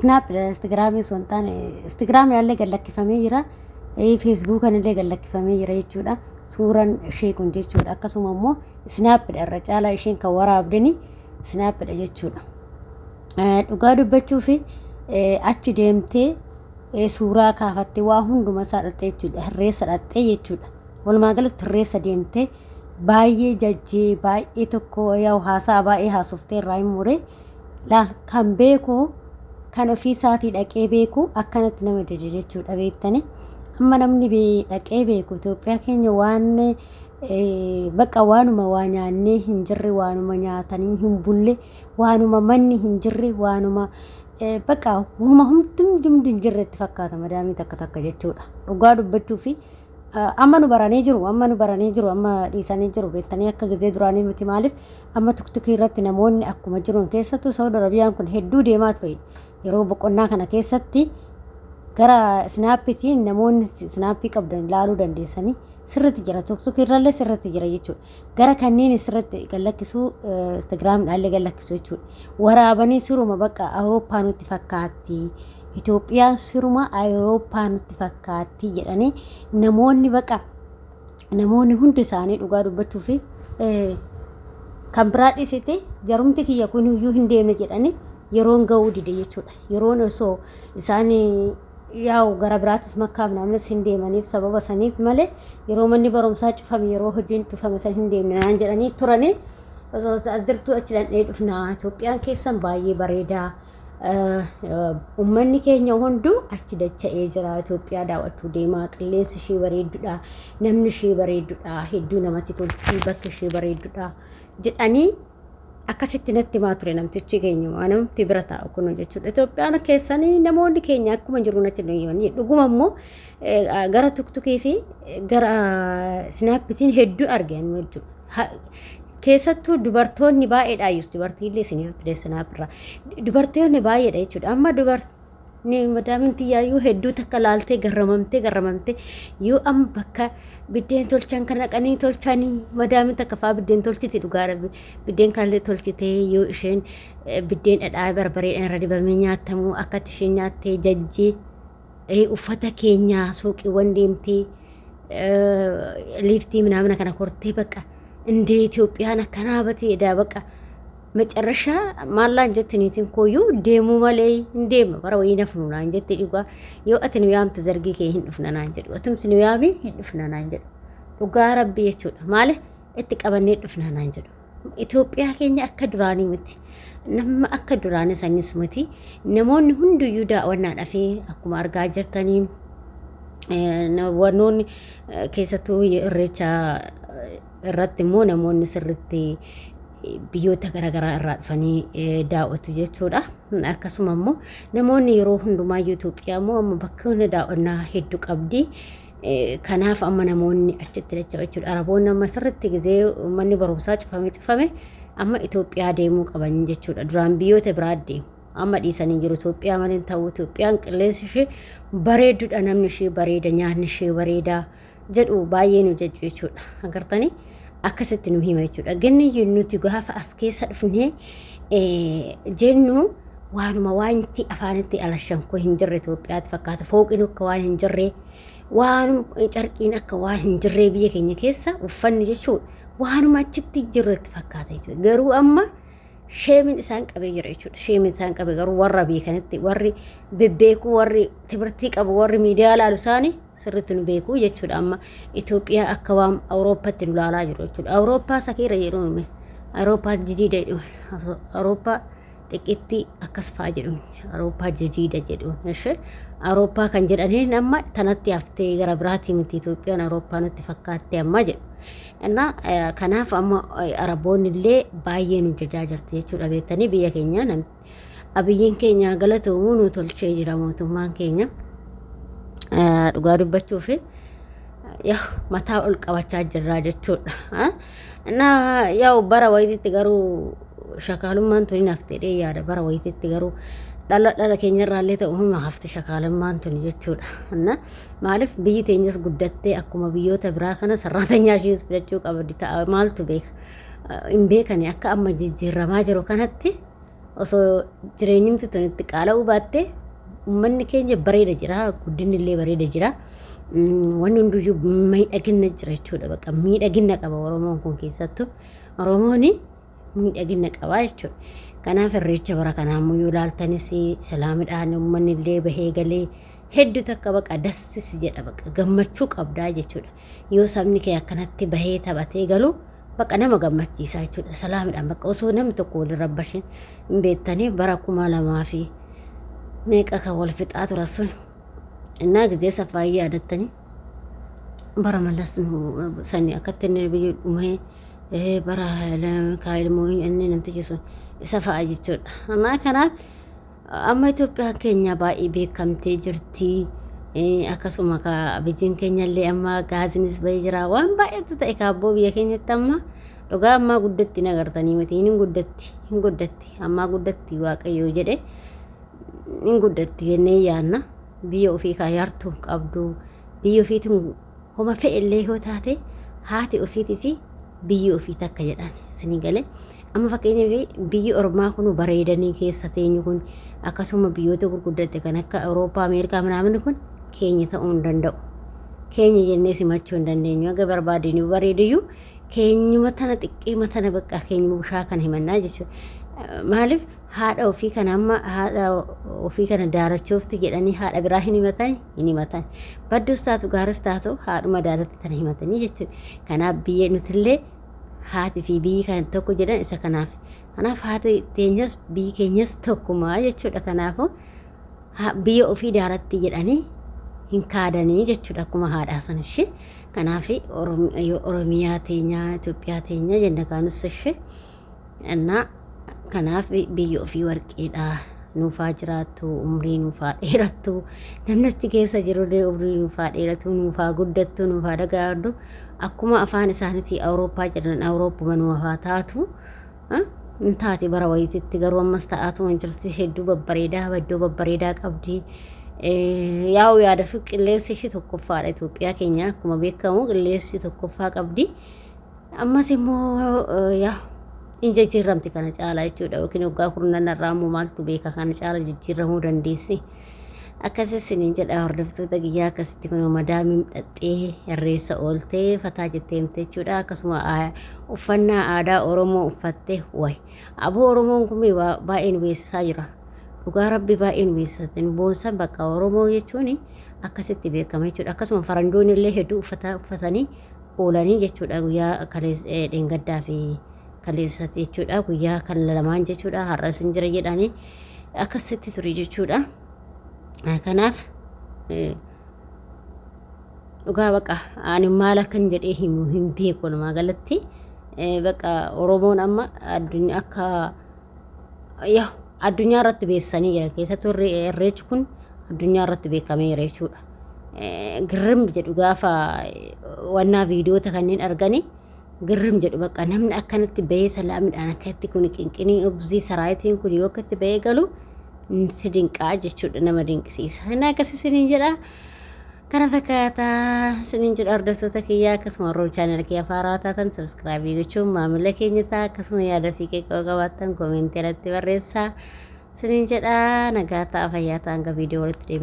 Snaap Instagiraamii osoo hin taane Instagiraamiidhaallee gad lakkifamee jira. Feesbuukanillee gad lakkifamee jira jechuudha. Suuraan ishee kun jechuudha. Akkasuma immoo Snaapidha irra caalaa isheen kan waraabdeni Snaapidha jechuudha. Dhugaa dubbachuu fi achi deemtee suuraa kaafattee waa hunduma isaa dhaqxee jechuudha. Hirreessa dhaqxee jechuudha. Walumaa galatti hirreessa deemtee baay'ee jajjee baay'ee tokko haasaa baay'ee haasoftee irraa hin muree. dha kan beeku kan ofii isaatii dhaqee beeku akkanatti nama dide jechuudha beektanii amma namni bee- dhaqee beeku Itoophiyaa keenya waan eh, baqa waanuma waa nyaannee hin jirre waanuma nyaatanii hin bulle waanuma manni hin jirre waanuma eh, baqa huma humtumdumdi hin jirre itti fakkaata madaamii takka takka jechuudha dhugaa dubbachuu fi Amma nu baranii jiru amma nu baranii jiru amma dhiisanii jiru beektanii akka gizee duraanii miti maaliif amma tuktukii irratti namoonni akkuma jiruun keessattuu Saawud Arabiyaan kun hedduu deemaa ture yeroo boqonnaa kana keessatti gara snaappitiin namoonni snaappii qabdan ilaaluu dandeessanii sirriitti jira tuktukii irrallee sirriitti jira jechuudha. gara kanneen isirratti gad lakkisuu Instagram dhaallee gad lakkisuu jechuudha. Waraabanii siruma bakka Awurooppaa nutti fakkaatti. Itoophiyaan siruma Awurooppaa nutti fakkaatti jedhanii namoonni bakka namoonni hundi isaanii dhugaa dubbachuu fi kan biraa dhisite jarumti kiyya kun iyyuu hin deemne jedhanii yeroon ga'uu dide jechuudha. Yeroon osoo isaan Yaa'u gara biraatis makkaa minaamis hin deemaniif sababa saniif malee yeroo manni barumsaa cufame yeroo hojiin cufame san hin deemne naan jedhanii turanii osoo as jirtuu achi dhandhee dhufnaa Itoophiyaan keessan baay'ee bareedaa ummanni keenya hunduu achi dacha'ee jira Itoophiyaa daawwachuu deemaa qilleensi ishee bareeddudha namni ishee bareeddudha hedduu namatti tolti bakki ishee bareeddudha jedhanii Akkasitti natti himaa ture namtichi keenya waan namatti bira taa'u kun jechuudha. Itoophiyaan keessanii namoonni keenya akkuma jiru natti nu himanii dhuguma immoo gara tuktukii fi gara sinaappitiin hedduu argan jechuudha. Keessattuu dubartoonni baay'eedha ayyus dubartiillee sinaappiidha sinaappiirraa dubartoonni baay'eedha jechuudha. Amma dubartii ni madaamin tiyyaayyuu hedduu takka laaltee garramamtee garramamtee yoo amma bakka biddeen tolchan kan dhaqanii tolchanii madaamin takka faa biddeen tolchiti dhugaa rabbi biddeen kanallee tolchitee yoo isheen eh, biddeen dhadhaa barbareedhaan irra dibamee nyaatamu akkatti isheen nyaattee jajjee eh, uffata keenyaa suuqiiwwan deemtee eh, liiftii minaamina kana kortee bakka indee Itoophiyaan akkanaa batee edaa bakka Macarrashaa maallaan jetti niitiin kooyyuu deemuu malee hin deema bara wayii nafnu naan jetti dhugaa yoo ati nu yaamtu zargii kee hin dhufna naan jedhu atumti nu yaamii hin dhufna naan jedhu dhugaa rabbi jechuudha maale itti qabannee dhufna naan jedhu Itoophiyaa keenya akka duraanii miti nama akka duraanii sanis miti namoonni hunduyyuu daawwannaa dhafee akkuma argaa jirtanii wannoonni keessattuu irreecha irratti immoo namoonni sirritti biyyoota garaagaraa irraa dhufanii daawwatu jechuudha. Akkasuma immoo namoonni yeroo hundumaa Itoophiyaa immoo amma bakkoonni daawwannaa hedduu qabdi. Kanaaf amma namoonni achitti dacha'u jechuudha. Araboonni amma sirritti gizee manni barumsaa cufame cufame amma Itoophiyaa deemuu qaban jechuudha. Duraan biyyoota biraa deemu. Amma dhiisanii jiru Itoophiyaa malee ta'u Itoophiyaan qilleensi ishee bareedduudha namni ishee bareeda nyaanni ishee bareedaa. jedhu baay'ee nu jajju jechuudha. Agartanii akkasitti nu hima jechuudha. Ganni nuti gaafa as keessa dhufnee jennu waanuma waanti afaanitti alashan kun hin jirre Itoophiyaatti fakkaata. Fooqiin akka waan hin jirree waanuma carqiin akka waan hin jirree biyya keenya keessa uffanni jechuudha. Waanuma achitti jirretti fakkaata jechuudha. Garuu amma sheemin isaan qabee jira jechuudha. Sheemin isaan qabe garuu warra beekanitti warri bebbeekuu warri timirtii qabu warri miidiyaa laalu isaanii sirritti nu beeku jechuudha amma Itoophiyaa akka waan Awurooppatti nu laalaa jiru jechuudha Awurooppaa sakiirra jedhu nume Awurooppaa jidiida jedhu Awurooppaa xiqqitti akkas fa'aa jedhu Awurooppaa jidiida jedhu ishee Awurooppaa kan jedhaniin amma tanatti haftee gara biraatii miti Itoophiyaan Awurooppaa nutti fakkaatte amma jedhu innaa kanaaf amma Araboonni illee baay'ee nu jajaa jirti jechuudha beektanii biyya keenya namni Abiyyiin keenya haa galatoomu nu tolchee jira mootummaan keenya. Eh, Dhugaa dubbachuu fi yaw mataa ol qabachaa jirraa jechuudha. ah. Na yaw bara wayititti garuu shakaalummaan tuni nafteedhee yaada bara wayititti garuu dhala dhala keenyarraallee ta'u hima hafti shakaalummaan tuni jechuudha. Na maaliif biyyi teenyas guddattee akkuma biyyoota biraa kana sarraatanyaa ishees fudhachuu qabdi ta'a maaltu beeka. Ah, Hin beekani akka amma jijjiirramaa jiru kanatti osoo jireenyumti tun itti qaala'uu baatte ummanni keenya bareeda jira guddinni illee bareeda jira wanni hunduyyuu miidhagina jira jechuudha bakka miidhagina qaba oromoon kun keessattu oromoon miidhagina qaba jechuudha kanaaf irreecha bara kanaa immoo yoo ilaaltanis islaamidhaan ummanni illee bahee galee hedduu takka baqa dassis jedha baqa gammachuu qabdaa jechuudha yoo sabni kee akkanatti bahee taphatee galu bakka nama gammachiisaa jechuudha salaamidhaan bakka osoo namni tokko waliin rabbashin hin beektanii bara kuma lamaa fi meeqa kan wal fixaa tura sun innaa gizee safaa yaadattanii bara malas sanii akkatti inni biyyi dhumee bara kaayilmoo inni namtichi sun isa fa'a jechuudha ammaa kanaaf Amma Itoophiyaan keenya baay'ee beekamtee jirti. Akkasuma kaa bijiin keenyallee amma gaazinis bahee jira. Waan baay'eetu ta'e kaabboo biyya keenyatti amma dhugaa ammaa guddatti hin agartanii miti hin guddatti hin guddatti ammaa guddatti waaqayyoo jedhe hin guddatti jennee yaanna biyya ofii kaa yartuu qabdu biyya ofiitiin Homa fe'ellee yoo taate haati ofiitii fi biyyi ofii takka jedhan isinii gale. Amma fakkeenyaaf biyyi ormaa kun bareedanii keessa teenyu kun akkasuma biyyoota gurguddatte kan akka Awurooppaa, Ameerikaa minaamin kun keenya ta'uu hin danda'u. Keenya jennee simachuu hin dandeenyu. Haga barbaadeen yoo bareediyyuu keenyuma tana xiqqeema tana bakka keenyuma bushaa kana himannaa jechuudha. Maaliif haadha ofii kana amma haadha ofii kana daarachoofti jedhanii haadha biraa hin himatanii? hin himatan. Badduus taatu gaaris taatu haadhuma daalatti tana himatanii jechuudha. Kanaaf biyya nutillee haati fi biyyi kan tokko jedhan isa kanaaf. Kanaaf haati teenyas biyyi keenyas tokkuma jechuudha. Kanaafuu ha- biyya ofii daalatti jedhanii hin kaadanii jechuudha akkuma haadhaa san ishee. Kanaaf Oromiyaa teenya Itoophiyaa teenya jenna kaanus ishee. Annaa kanaaf biyyi ofii warqeedha. Nuufaa jiraattu, umrii nuufaa dheerattu. Namni achi keessa jirullee umrii nuufaa dheeratu, nuufaa guddattu, nuufaa dagaagdu. Akkuma afaan isaaniitii Awurooppaa jedhan Awurooppuma nuufaa taatu. Ah, Hin taati bara wayititti garuu ammas ta'aatu hin jirti. Hedduu babbareedaa, iddoo babbareedaa qabdi. Eh, Yaa'u yaada fi qilleensi ishii tokkoffaadha. Itoophiyaa keenya akkuma beekamu qilleensi tokkoffaa qabdi. Ammas immoo yaa hin jijjiiramti kana caalaa jechuudha yookiin waggaa kurnan irraa immoo maaltu beeka kana caalaa jijjiiramuu dandeessi. Akkasas siniin jedha hordoftoota kiyyaa akkasitti kun madaamiin dhaxxee irreessa ooltee fataa jettee himte jechuudha akkasuma uffannaa aadaa Oromoo uffattee wayi aboo Oromoon kun baay'een beeksisaa jira. Dhugaa rabbi baay'een beeksisan boonsan bakka Oromoo jechuun akkasitti beekama jechuudha akkasuma farandoonni illee hedduu uffata uffatanii oolanii jechuudha guyyaa kalees eh, dheengaddaa fi kaleessatti jechuudha guyyaa kan lamaan jechuudha har'a isin jira jedhanii akkasitti ture jechuudha Eh, kanaaf eh, dhugaa baqa ani maal akkan jedhee himu hin beeku walumaa galatti Eh, baqa oromoon amma addunyaa akka yaa addunyaa irratti beessanii jiran keessattuu irre- irreechi kun addunyaa irratti beekameera jechuudha. Eh, Girrim jedhu gaafa eh, wannaa viidiyoota kanneen arganii girrim jedhu bakka namni akkanatti bahee salaamidhaan akkatti kun qinqinii obzii saraayitiin kun yoo akkatti bahee galu mm, si dinqaa jechuudha nama dinqisiisa. Inni akkasii siniin jedhaa. Kana fakkaata isiniin jedha hordoftoota kiyyaa akkasuma warroon chaanala kiyya faaraa taatan subscribe gochuun maamila keenya ta'a akkasuma yaada fi qeeqoo qabaattan koomentii irratti barreessaa isiniin jedha nagaa ta'a fayyaa ta'a hanga viidiyoo walitti deebiin.